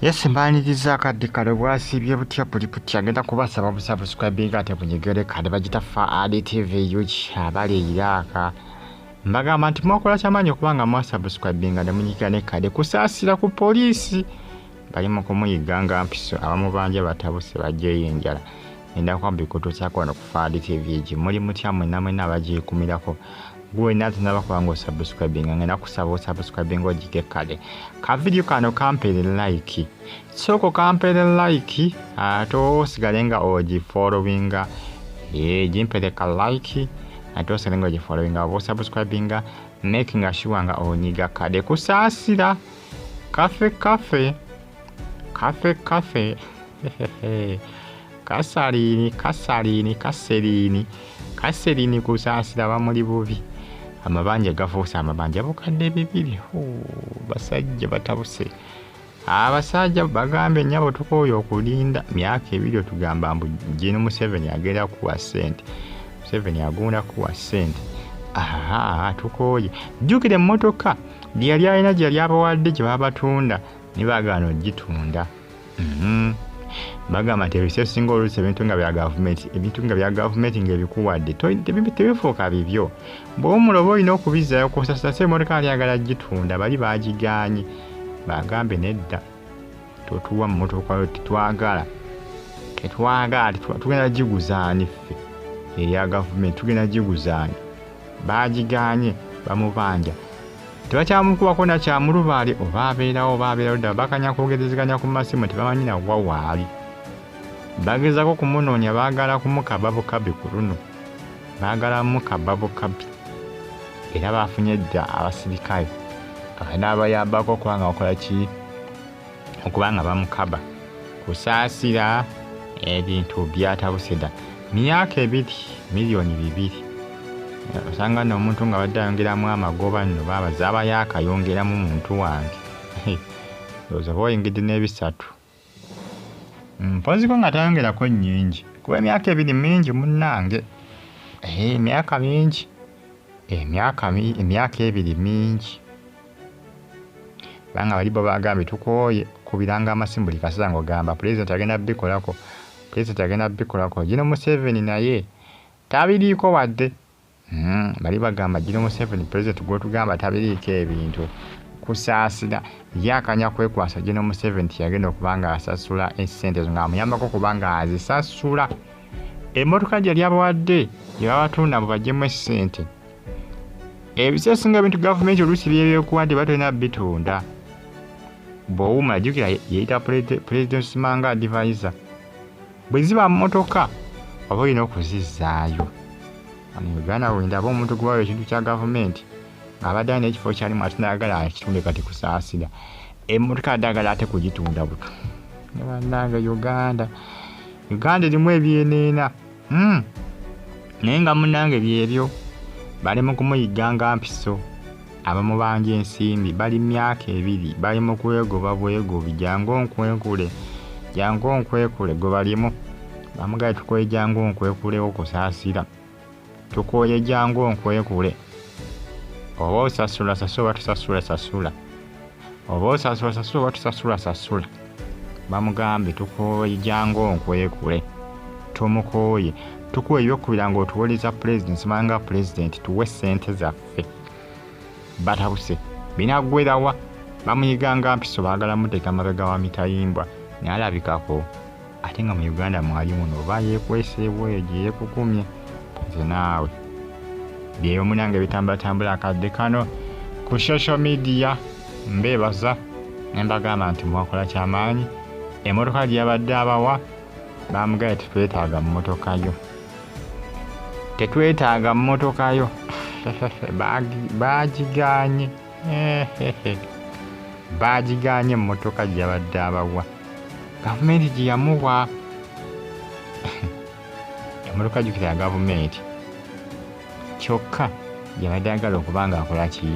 yesi mbaniriza akadde kale bwasiibye butya buli butya ngenda kubasaba busabuscribinga ate bunyegere kale bagita fa adtv ug abali eiraaka mbagamba nti mwakola kyamaanyi okuba nga mwasabuscribinga ne munyigira ne kade kusaasira ku poliisi bali mu kumuyiga nga mpiso abamubanja batabuse bajjeyo enjala endako mbikutu kyakwano ku faadi tv egi muli mutya mwena mwena abagikumirako gwe nati naba kubanga osubscribing nga nakusaba osubscribing ojige kale ka video kano kampere like soko kampere like ate osigale nga ogi following ye jimpere ka like ate osigale nga ogi following oba osubscribing making sure nga onyiga kale kusasira Kafe kafe kafe kafe kasaliini kasaliini kaseriini kaseriini kusaasira bamuli bubi amabanja gafuuse amabanja bukadde bibiri basajja batabuse abasajja bagambye nyabo tukooye okulinda myaka ebiri otugamba mbu jini museveni agenda kuwa sente museveni agunda kuwa sente tukooye jjukira emmotoka gye yali alina gye yali abawadde gye babatunda ne bagaana okugitunda mhm. bagamba nti ebisa esinga oluusi ebintu nga bya gavumenti ebintu nga bya gavumenti ngaebikuwadde tebifuuka bibyo bwewumula oba olina okubizzayo kusasasa emotoka alyagala gitunda bali bagiganye bagambe nedda totuwa mmotoka yo tetwagala tetwagala tugenda giguzaani ffe eya gavumenti tugenda giguzaani baagiganye bamubanja tebakyamukubako nakyamulubaale oba abeerawo oba abeerawo ddala bakanya kwogerezeganya ku masimu tebamanyi nawa waali bagezako kumunoonya baagala kumukaba bukabi ku luno Baagalamu ka babo kapi era baafunye dda abasirikale abanaabayambako okuba nga bakola ki okuba nga bamukaba kusaasira ebintu byatabuse dda myaka ebiri miliyoni bibiri osanga no omuntu nga badde ayongeramu amagoba nno baaba zaaba yaakayongeramu muntu wange ndowooza oba oyingidde n'ebisatu Mpozzi ko nga tayongerako nnyingi kuba emyaka ebiri mingi munnange. Ehe emyaka mingi emyaka emyaka ebiri mingi kubanga bali bo bagambye tukooye kubiranga amasimu buli kaseera ng'ogamba pulezidenti agenda bikolako pulezidenti agenda bikolako gino museveni naye tabiriiko wadde Hmm, bali bagamba jino museveni president gwotugamba tabiriiko ebintu kusaasira ye akanya kwekwasa jino museveni tiyagenda okuba nga asasula esente ezo ngaamuyambako okuba nga azisasula emmotoka gyeyali abawadde gyebabatunda mu bajemu esente ebisesinga ebintu gavumenti oluusi byebyokuwadde batolina bitunda bwowuma jukira yeyita president simanga advisor bwe ziba mmotoka oba olina okuzizzaayo wano uganda wendaba omuntu gwewayo ekintu kya gavumenti ng'abadde alina ekifo kyalimu ate nayagala akitunde kati kusaasira emmotoka adde agala ate kugitunda buto nebannange uganda uganda erimu ebyeneena hmm. naye nga munange byebyo bali mu kumuyigga nga mpiso Abamubanja ensimbi bali myaka ebiri bali mu kwegoba bwegobi jangu onkwenkule jangu onkwekule gwe balimu bamugaye tukoye jangu onkwekulewo kusaasira tukoye jangu onkwekule oba osasula sasula oba tusasula sasula oba osasula sasula oba tusasula sasula bamugambye tukooye jangu onkwekule tumukooye tukuwa ebyokubira ngaotuwoleza pulezidenti simanga pulezidenti tuwe sente zaffe ffe batabuse binagwerawa bamuyiganga mpiso bagala muteka mabega wa mitayimbwa nalabikako ate nga mu uganda mwali muno oba yekweseewo eyo gyeyekukumye nze naawe byeyo munange bitambulatambula akadde kano ku social media mbebaza nembagamba nti mwakola kyamaanyi emotoka gyeyabadde abawa bamugaye tetwetaaga mu motoka yo tetwetaaga mmotoka yo baagiganye baagiganye emmotoka gye yabadde abawa gavumenti gye yamuwa emmotoka jukira ya gavumenti kyokka yabadde agala okuba nga akola ki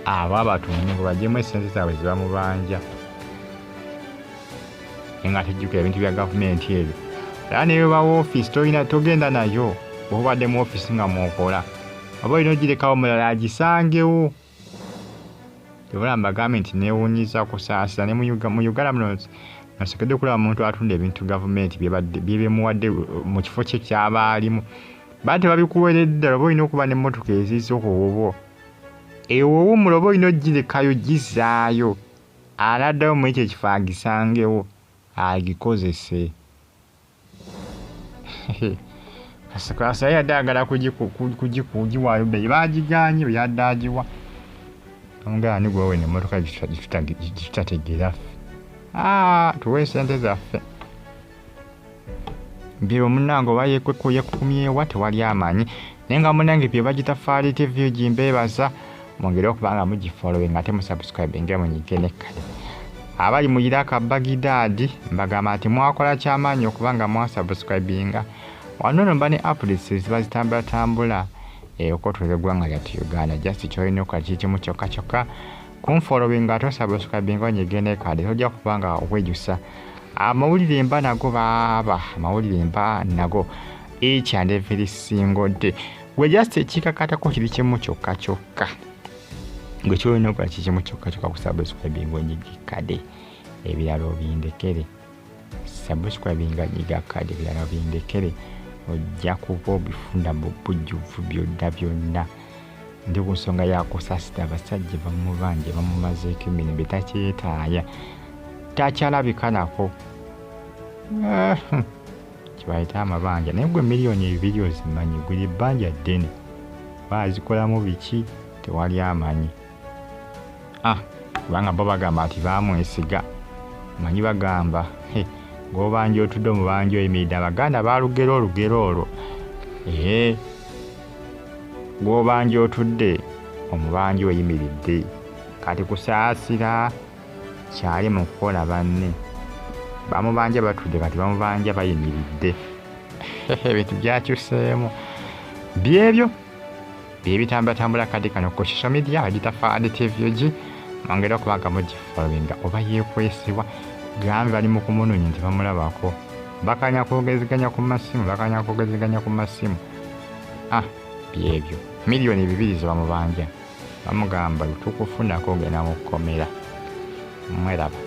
abo abatunde ngo bajemu esente zaabwe zebamubanja naye nga tejjukira ebintu bya gavumenti ebyo era neyoba wofiisi tolina togenda nayo bwobadde mu ofiisi nga mwokola oba olina ogirekawo mulala agisangewo ebula mbagambye nti newunyiza kusaasira ne mu uganda muno nasokedde okulaba muntu atunda ebintu gavumenti byebemuwadde uh, mu kifo kye kyaba alimu baa tebabikuweredde ddala oba olina okuba nemmotoka eziiza okuwubo ewowumula oba olina ogirekayo gizaayo Anaddayo mu ekyo ekifo agisangewo agikozese. Kasikaasa yali yadde agala kugiwaayo bbeeyi baagiganye bwe yadde agiwa omugala ni gwewe nemmotoka gitutategeera ffe tuwe sente zaffe mbiro omunange oba yekweko yekukumyewa tewali amanyi naye nga munange bye bagita faali tv ugi mbebaza mwongere okuba nga mugifolowing ate musubscribinge munyige nekkale abali mu iraka bagidaadi mbagamba nti mwakola kyamaanyi okuba nga mwasubscribinga wano no mba ne updates ziba zitambulatambula eyokotuza eggwanga lyatu uganda just kyolina okola kikimu kyokka kyokka kunfolowinga ate osabusukabinga onyige nekade tojja kuba nga wejusa amawulire mba nago baaba amawulire mba nago each and every single day gwe just ekikakatako kiri kimu kyokka kyokka gwe kyolina okola kikimu kyokka kyokka kusabusukabinga onyige kade ebirala obindekere subscribinga nyiga kadi ebirala bindekere ojja kuba obifuna mu bujjuvu byonna byonna ndi ku nsonga yakusasita abasajja bamubanja bamumazeeko emirembe takyetaaya takyalabikanako ah, hmm. kibayita amabanja naye gwe miliyoni ebibiri ozimanyi guli bbanja ddene baazikolamu biki tewali amanyi ah, kubanga bo bagamba nti bamwesiga manyi bagamba gobanja otudde omubanja oyimiridde abaganda balugera olugero olwo ee gwobanja otudde omubanja oyimiridde kati kusaasira kyali mu kukola banne bamubanja batudde kati bamubanja bayimiridde ebintu byakyuseemu byebyo byebitambulatambula kadi kano ku social media agitafa and tvg mwongere okuba nga mugifollowinga oba yekwesibwa gambe bali mu kumunonya nti bamulabako bakanya kwogeziganya ku masimu bakanya kwogeziganya ku masimu ah byebyo miliyoni bibiri zebamubanja bamugamba tukufunako ogenda mu kkomera mweraba